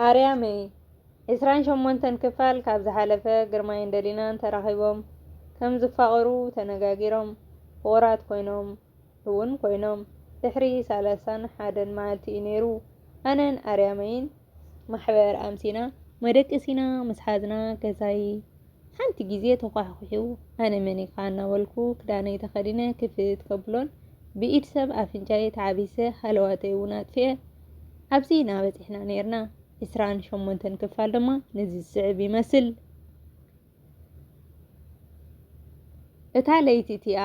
ኣርያመይ ዕስራን ሸሞንተን ክፋል ካብ ዝሓለፈ ግርማይን ደሊናን ተራኺቦም ከም ዝፋቐሩ ተነጋጊሮም ፍቑራት ኮይኖም እውን ኮይኖም ድሕሪ ሰላሳን ሓደን መዓልቲ እዩ ነይሩ ኣነን ኣርያመይን ማሕበር ኣምሲና መደቀሲና ምስ ሓዝና ገዛይ ሓንቲ ግዜ ተዃሕዂሑ ኣነ መን ኢኻ እናበልኩ ክዳነይ ተኸዲነ ክፍት ከብሎን ብኢድ ሰብ ኣፍንጫይ ተዓቢሰ ሃለዋተይ እውን ኣጥፊኤ ኣብዚ ኢና በጺሕና ኔርና። ዕስራን ሸሞንተን ክፋል ድማ ነዚ ዝስዕብ ይመስል። እታ ለይቲ እቲኣ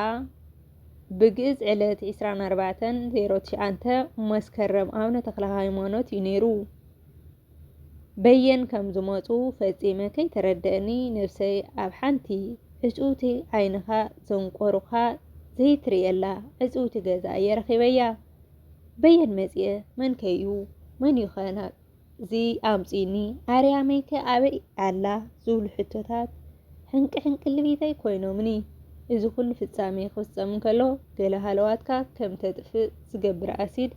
ብግእዝ ዕለት ዕስራን ኣርባዕተን ዜሮ ትሽዓንተ መስከረም ኣብነ ተክለሃይማኖት እዩ ነይሩ። በየን ከም ዝመጹ ፈጺመ ከይተረደእኒ ነብሰይ ኣብ ሓንቲ ዕጽውቲ ዓይንኻ ዘንቆሩኻ ዘይትርእየላ ዕጽውቲ ገዛ እየ ረኺበያ። በየን መጽየ መንከዩ መንዩኸ ናብዚ ኣምጺኡኒ ኣርያመይከ ኣበይ ኣላ ዝብሉ ሕቶታት ሕንቂ ሕንቂ ልቢተይ ኮይኖምኒ። እዚ ኩሉ ፍጻሜ ክፍጸም እንከሎ ገለ ሃለዋትካ ከም ተጥፍእ ዝገብር ኣሲድ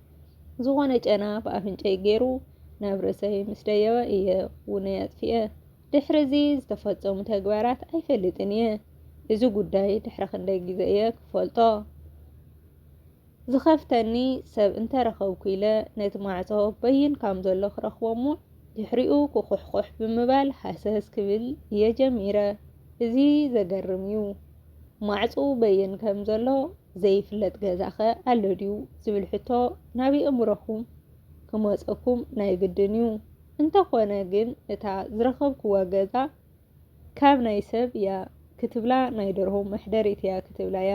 ዝኾነ ጨና ብኣፍንጨይ ገይሩ ናብ ርእሰይ ምስ ደየበ እየ ውነይ ኣጥፊኤ። ድሕሪ እዚ ዝተፈጸሙ ተግባራት ኣይፈልጥን እየ። እዚ ጉዳይ ድሕሪ ክንደይ ግዜ እየ ክፈልጦ? ዝኸፍተኒ ሰብ እንተ ረኸብኩ ኢለ ነቲ ማዕጾ በይን ካም ዘሎ ክረኽቦ'ሞ ድሕሪኡ ኩኹሕኩሕ ብምባል ሃሰስ ክብል እየ ጀሚረ። እዚ ዘገርም እዩ። ማዕጽኡ በይን ከም ዘሎ ዘይፍለጥ ገዛኸ ኣሎ ድዩ? ዝብል ሕቶ ናብ የእምሮኹም ክመጸኩም ናይ ግድን እዩ። እንተ ኾነ ግን እታ ዝረኸብኩዋ ገዛ ካብ ናይ ሰብ እያ ክትብላ ናይ ደርሆ መሕደሪት እያ ክትብላ እያ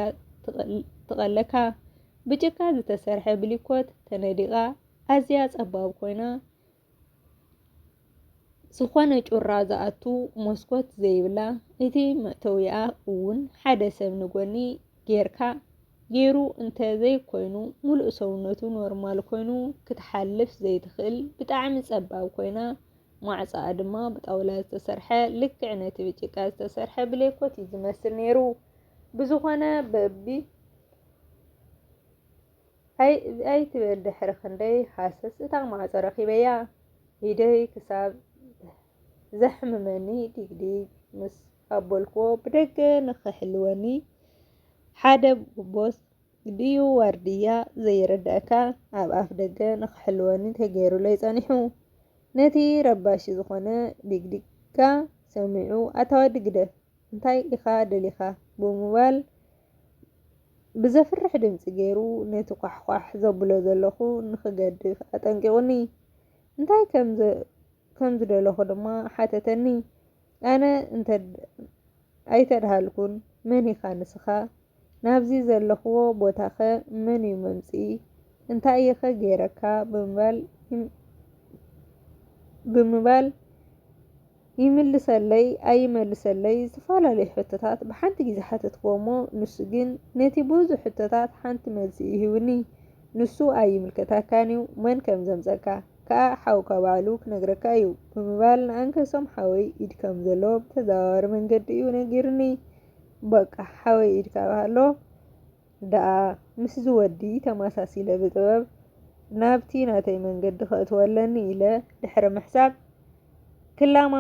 ትቐለካ። ብጭቃ ዝተሰርሐ ብሊኮት ተነዲቓ ኣዝያ ጸባብ ኮይና ዝኾነ ጩራ ዝኣቱ መስኮት ዘይብላ እቲ መእተዊኣ እውን ሓደ ሰብ ንጎኒ ጌርካ ጌሩ እንተ ዘይኮይኑ ሙሉእ ሰውነቱ ኖርማል ኮይኑ ክትሓልፍ ዘይትኽእል ብጣዕሚ ጸባብ ኮይና ማዕጾኣ ድማ ብጣውላ ዝተሰርሐ ልክዕ ነቲ ብጭቃ ዝተሰርሐ ብሌኮት እዩ ዝመስል ነይሩ። ብዝኾነ በቢ ኣይትበል ድሕሪ ክንደይ ሃሰስ እታ ማዕጾ ረኺበያ ኢደይ ክሳብ ዘሕምመኒ ዲግዲግ ምስ ኣበልክዎ ብደገ ንኽሕልወኒ ሓደ ቦስ ድዩ ዋርድያ ዘይርድኣካ ኣብ ኣፍ ደገ ንኽሕልወኒ ተገይሩለይ ጸኒሑ። ነቲ ረባሺ ዝኾነ ዲግዲግካ ሰሚዑ ኣታ ወዲ ግደፍ እንታይ ኢኻ ደሊኻ ብምባል ብዘፍርሕ ድምጺ ገይሩ ነቲ ኳሕኳሕ ዘብሎ ዘለኹ ንኽገድፍ ኣጠንቂቑኒ። እንታይ ከም ከም ዝደለኹ ድማ ሓተተኒ። ኣነ እንተ ኣይተድሃልኩን፣ መን ኢኻ ንስኻ? ናብዚ ዘለኹዎ ቦታኸ መን እዩ መምጽኢ? እንታይ እየኸ ገይረካ? ብምባል ይምልሰለይ ኣይመልሰለይ ዝተፈላለዩ ሕቶታት ብሓንቲ ግዜ ሓተትኩዎ'ሞ ንሱ ግን ነቲ ብዙሕ ሕቶታት ሓንቲ መልሲ ይህብኒ። ንሱ ኣይምልከተካን'ዩ መን ከም ዘምጸካ። ከኣ ሓውካ ባዕሉ ክነግረካ እዩ ብምባል ንኣንከሶም ሓወይ ኢድ ከም ዘለዎ ብተዘዋዋሪ መንገዲ እዩ ነጊሩኒ። በቃ ሓወይ ኢድ ካብ ሃሎ ደኣ ምስዚ ወዲ ተመሳሲለ ብጥበብ ናብቲ ናተይ መንገዲ ከእትዎ ኣለኒ ኢለ ድሕሪ ምሕሳብ ክላማ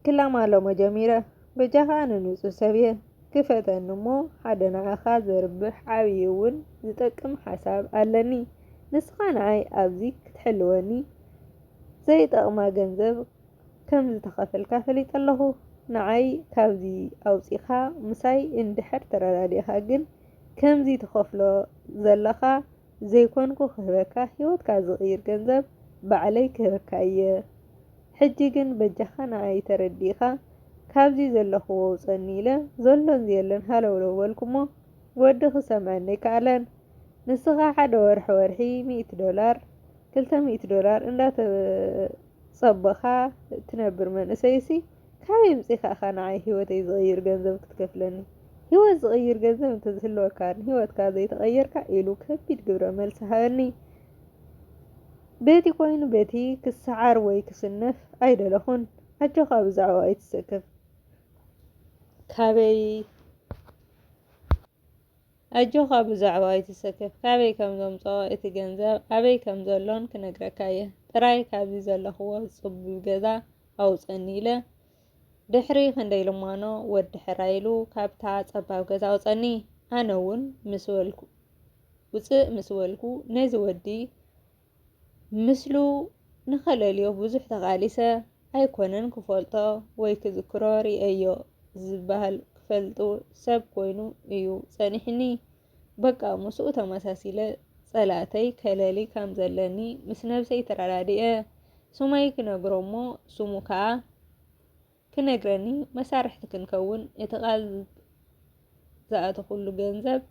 ክላ ማሎሞ ጀሚረ በጃኻ ኣነ ንጹህ ሰብየ ክፈተኒ እሞ ሓደ ንዓኻ ዘርብሕ ዓብይ እውን ዝጠቅም ሓሳብ ኣለኒ ንስኻ ንዓይ ኣብዚ ክትሕልወኒ ዘይጠቅማ ገንዘብ ከምዝተኸፈልካ ፈሊጠ ኣለኹ ንዓይ ካብዚ ኣውጺኻ ምሳይ እንድሕር ተረዳዲእኻ ግን ከምዚ ትኸፍሎ ዘለኻ ዘይኮንኩ ክህበካ ሂወትካ ዝቅይር ገንዘብ ባዕለይ ክህበካ እየ ሕጂ ግን በጃካ ንዓይ ተረዲእካ ካብዚ ዘለክዎ ኣውጸኒ ኢለ ዘሎን ዘየሎን ሃለውለው በልኩሞ ወዲ ክሰምዐኒ ኣይካኣለን ንስካ ሓደ ወርሒ ወርሒ ሚእቲ ዶላር ክልተ ሚእቲ ዶላር እንዳተጸበካ ትነብር መንእሰይሲ ካበይ ኣምጺኻ ኢኻ ንዓይ ሂወተይ ዝቕይር ገንዘብ ክትከፍለኒ? ሂወት ዝቕይር ገንዘብ እንተዝህልወካ ንሂወትካ ዘይተቐየርካ ኢሉ ከቢድ ግብረ መልሲ ሃበኒ። በቲ ኮይኑ በቲ ክሰዓር ወይ ክስነፍ ኣይደለኹን። ኣጆኻ ብዛዕባኡ ኣይትሰከፍ። ካበይ? ኣጆኻ ብዛዕባ ኣይትሰከፍ ካበይ ከም ዘምጸኦ እቲ ገንዘብ ኣበይ ከም ዘሎን ክነግረካ እየ ጥራይ ካብዚ ዘለኽዎ ጽቡብ ገዛ ኣውጸኒ ኢለ ድሕሪ ክንደይ ልማኖ ወዲ ሕራይ ኢሉ ካብታ ጸባብ ገዛ ኣውጸኒ ኣነ እውን ምስ በልኩ ውጽእ ምስ በልኩ ነዚ ወዲ ምስሉ ንኸለልዮ ብዙሕ ተቓሊሰ ኣይኮነን ክፈልጦ ወይ ክዝክሮ ርእየዮ ዝበሃል ክፈልጡ ሰብ ኮይኑ እዩ ጸኒሕኒ በቃ ምስኡ ተመሳሲለ ጸላእተይ ከለሊ ከም ዘለኒ ምስ ነብሰይ ተረዳዲኤ ሱመይ ክነግሮ'ሞ ሱሙ ከኣ ክነግረኒ መሳርሕቲ ክንከውን እቲ ቃል ዝኣተኹሉ ገንዘብ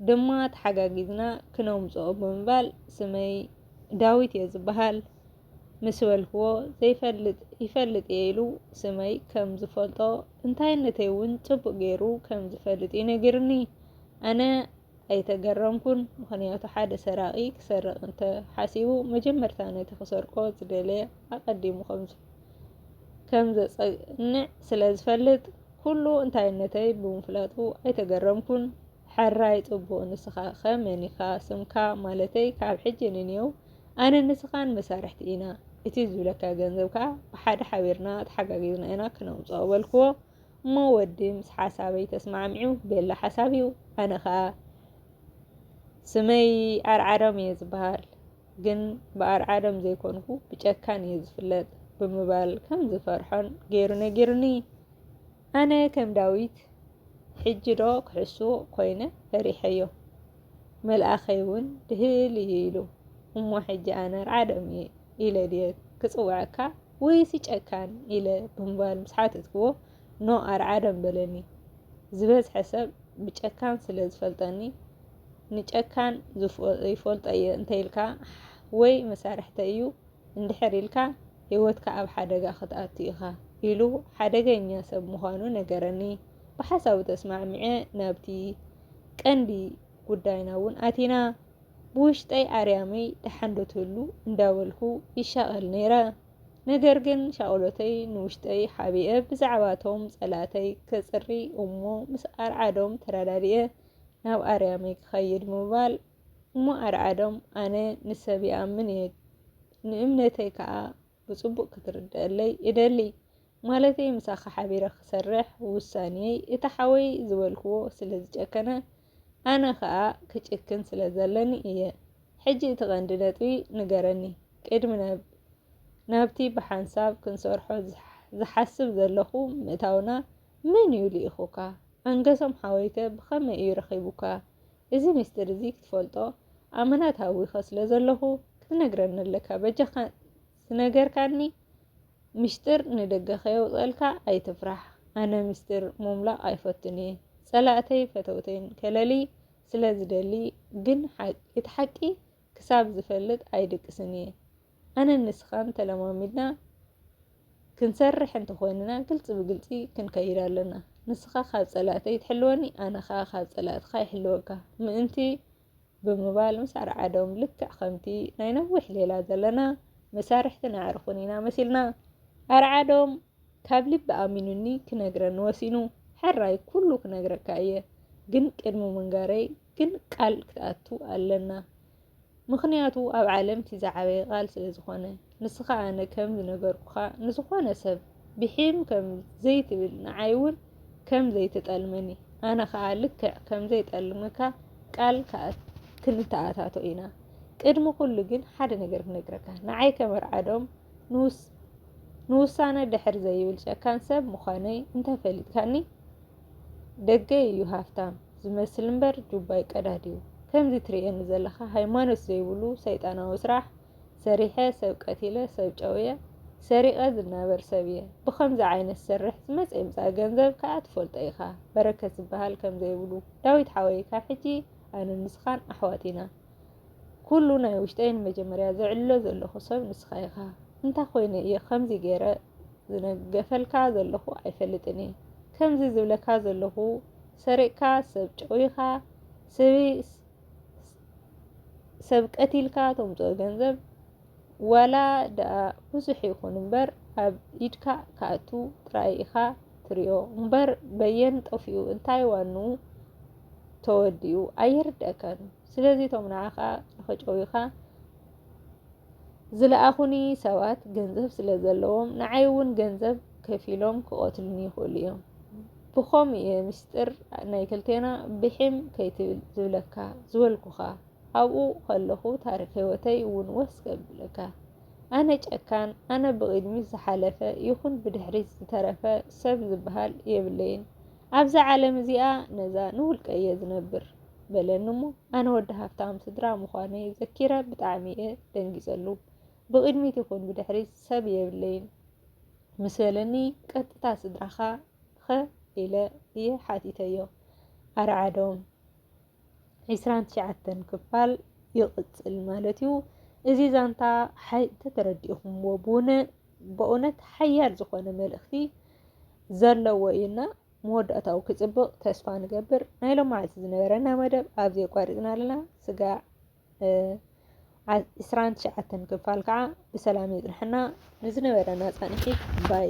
ድማ ተሓጋጊዝና ክነምጽኦ ብምባል ስመይ ዳዊት እየ ዝበሃል ምስ በልክዎ ዘይፈልጥ ይፈልጥ እየ ኢሉ ስመይ ከም ዝፈልጦ እንታይነተይ እውን ጽቡቕ ገይሩ ከም ዝፈልጥ እዩ ነጊርኒ ኣነ ኣይተገረምኩን ምኽንያቱ ሓደ ሰራቒ ክሰርቕ እንተ ሓሲቡ መጀመርታ ነቲ ክሰርቆ ዝደለየ ኣቐዲሙ ከም ዘጸንዕ ስለ ዝፈልጥ ኩሉ እንታይነተይ ብምፍላጡ ኣይተገረምኩን። ሕራይ ጽቡቕ ንስኻ ከ መን ኢኻ ስምካ ማለተይ ካብ ሕጂ ንንየው ኣነ ንስኻን መሳርሕቲ ኢና እቲ ዝብለካ ገንዘብ ከኣ ብሓደ ሓቢርና ተሓጋጊዝና ኢና ክነምጽኦ በልክዎ። እሞ ወዲ ምስ ሓሳበይ ተስማዕሚዑ ቤላ ሓሳብ እዩ ኣነ ከኣ ስመይ ኣርዓዶም እየ ዝበሃል ግን ብኣርዓዶም ዘይኮንኩ ብጨካን እየ ዝፍለጥ ብምባል ከም ዝፈርሖን ገይሩ ነጊሩኒ ኣነ ከም ዳዊት ሕጂ ዶ ክሕሱ ኮይነ ፈሪሐዮ መልኣኸይ እውን ድህል እዩ ኢሉ እሞ ሕጂ ኣነ ኣርዓዶም እየ ኢለ ድየ ክጽውዐካ ወይሲ ጨካን ኢለ ብምባል ምስ ሓተትክዎ ኖ ኣርዓዶም በለኒ። ዝበዝሐ ሰብ ብጨካን ስለ ዝፈልጠኒ ንጨካን ይፈልጦ እየ እንተኢልካ ወይ መሳርሕተ እዩ እንድሕር ኢልካ ህይወትካ ኣብ ሓደጋ ክትኣቱ ኢኻ ኢሉ ሓደገኛ ሰብ ምዃኑ ነገረኒ። ብሓሳቡ ተስማዕሚዐ ናብቲ ቀንዲ ጉዳይና እውን ኣቲና። ብውሽጠይ ኣርያመይ ደሓን ዶ ትህሉ እንዳበልኩ ይሻቐል ነይረ። ነገር ግን ሻቕሎተይ ንውሽጠይ ሓቢኤ ብዛዕባቶም ጸላእተይ ከጽሪ እሞ ምስ ኣርዓዶም ተረዳዲኤ ናብ ኣርያመይ ክኸይድ ምባል እሞ ኣርዓዶም ኣነ ንሰብ ይኣምን እየ ንእምነተይ ከኣ ብጽቡቕ ክትርደኣለይ እደሊ። ማለተይ ምሳኻ ሓቢረ ክሰርሕ ውሳኔየይ እቲ ሓወይ ዝበልክዎ ስለ ዝጨከነ ኣነ ከኣ ክጭክን ስለ ዘለኒ እየ። ሕጂ እቲ ቀንዲ ነጥቢ ንገረኒ ቅድሚ ናብቲ ብሓንሳብ ክንሰርሖ ዝሓስብ ዘለኹ ምእታውና መን እዩ ልኢኹካ? ኣንገሶም ሓወይከ ብኸመይ እዩ ረኺቡካ? እዚ ምስጢር እዚ ክትፈልጦ ኣመና ተሃዊኸ ስለ ዘለኹ ክትነግረኒ ኣለካ በጃካ ዝነገርካኒ ምሽጥር ንደገ ከየውፀልካ ኣይትፍራሕ ኣነ ምስጢር ምምላቅ ኣይፈቱን እየ ፀላእተይ ፈተውተይን ከለልይ ስለ ዝደሊ ግን እቲ ሓቂ ክሳብ ዝፈልጥ ኣይድቅስን እየ ኣነን ንስኻን ተለማሚድና ክንሰርሕ እንተኾይንና ግልፂ ብግልፂ ክንከይድ ኣለና። ንስኻ ካብ ፀላእተይ ትሕልወኒ፣ ኣነ ከዓ ካብ ፀላእትኻ ይሕልወካ ምእንቲ ብምባል ምስ ኣርዓዶም ልክዕ ከምቲ ናይ ነዊሕ ሌላ ዘለና መሳርሕትን ኣዕርኹን ኢና መሲልና። ኣርዓዶም ካብ ልቢ ኣሚኑኒ ክነግረኒ ወሲኑ። ሕራይ ኩሉ ክነግረካ እየ ግን ቅድሚ ምንጋረይ ግን ቃል ክትኣቱ ኣለና። ምኽንያቱ ኣብ ዓለም እቲ ዝዓበየ ቃል ስለ ዝኾነ። ንስኻ ኣነ ከም ዝነገርኩኻ ንዝኾነ ሰብ ብሒም ከም ዘይትብል ንዓይ እውን ከም ዘይትጠልመኒ ኣነ ኸኣ ልክዕ ከም ዘይጠልመካ ቃል ክንተኣታቶ ኢና። ቅድሚ ኩሉ ግን ሓደ ነገር ክነግረካ ንዓይ ከም ኣርዓዶም ንውሳነ ድሕር ዘይብል ጨካን ሰብ ምዃነይ እንተፈሊጥካኒ ደገ እዩ ሃፍታም ዝመስል እምበር ጁባይ ቀዳድ እዩ ከምዚ ትርእየኒ ዘለካ ሃይማኖት ዘይብሉ ሰይጣናዊ ስራሕ ሰሪሐ ሰብ ቀቲለ ሰብ ጨውየ ሰሪቀ ዝናበር ሰብ እየ ብከምዚ ዓይነት ሰርሕ ዝመፀ ይምፃእ ገንዘብ ከዓ ትፈልጦ ኢካ በረከት ዝበሃል ከምዘይብሉ ዳዊት ሓወይ ካብ ሕጂ ኣነ ንስካን ኣሕዋት ኢና ኩሉ ናይ ውሽጠይ ንመጀመርያ ዘዕልሎ ዘለኹ ሰብ ንስኻ ኢኻ። እንታይ ኮይነ እየ ከምዚ ገይረ ዝነገፈልካ ዘለኹ ኣይፈልጥን እየ ከምዚ ዝብለካ ዘለኹ ሰሪቕካ ሰብ ጨዊኻ ሰብ ቀቲልካ ተምፅኦ ገንዘብ ዋላ ደኣ ብዙሕ ይኹን እምበር ኣብ ኢድካ ክኣቱ ጥራይ ኢኻ ትሪኦ እምበር በየን ጠፊኡ እንታይ ዋኑ ተወዲኡ ኣይርደእካን ስለዚ እቶም ንዓኻ ንኸጨውዩኻ ዝለኣኹኒ ሰባት ገንዘብ ስለ ዘለዎም ንዓይ እውን ገንዘብ ከፊሎም ክቐትሉኒ ይኽእሉ እዮም ብኸምኡ እየ ምስጢር ናይ ክልቴና ብሒም ከይትብል ዝብለካ ዝበልኩኻ ኣብኡ ከለኹ ታሪኽ ህይወተይ እውን ወስ ከብለካ ኣነ ጨካን ኣነ ብቕድሚት ዝሓለፈ ይኹን ብድሕሪት ዝተረፈ ሰብ ዝበሃል የብለይን ኣብዛ ዓለም እዚኣ ነዛ ንውልቀየ ዝነብር በለኒ እሞ ኣነ ወዲ ሃፍታም ስድራ ምዃነይ ዘኪረ ብጣዕሚ እየ ደንጊጸሉ። ብቕድሚት ይኹን ብድሕሪት ሰብ የብለይን ምስ በለኒ ቀጥታ ስድራኻ ኸ ኢለ እየ ሓቲተዮ። ኣርዓዶም ዕስራን ትሽዓተን ክፋል ይቕጽል ማለት እዩ። እዚ ዛንታ ተተረዲእኹምዎ በእውነት ሓያል ዝኾነ መልእኽቲ ዘለዎ እዩና መወዳእታኡ ክጽብቕ ተስፋ ንገብር። ናይ ሎማዓልቲ ዝነበረና መደብ ኣብዚ የቋሪጽና ኣለና። ስጋዕ ዕስራን ትሽዓተን ክፋል ከዓ ብሰላም የጽንሐና። ንዝነበረና ጻንሒት ባይ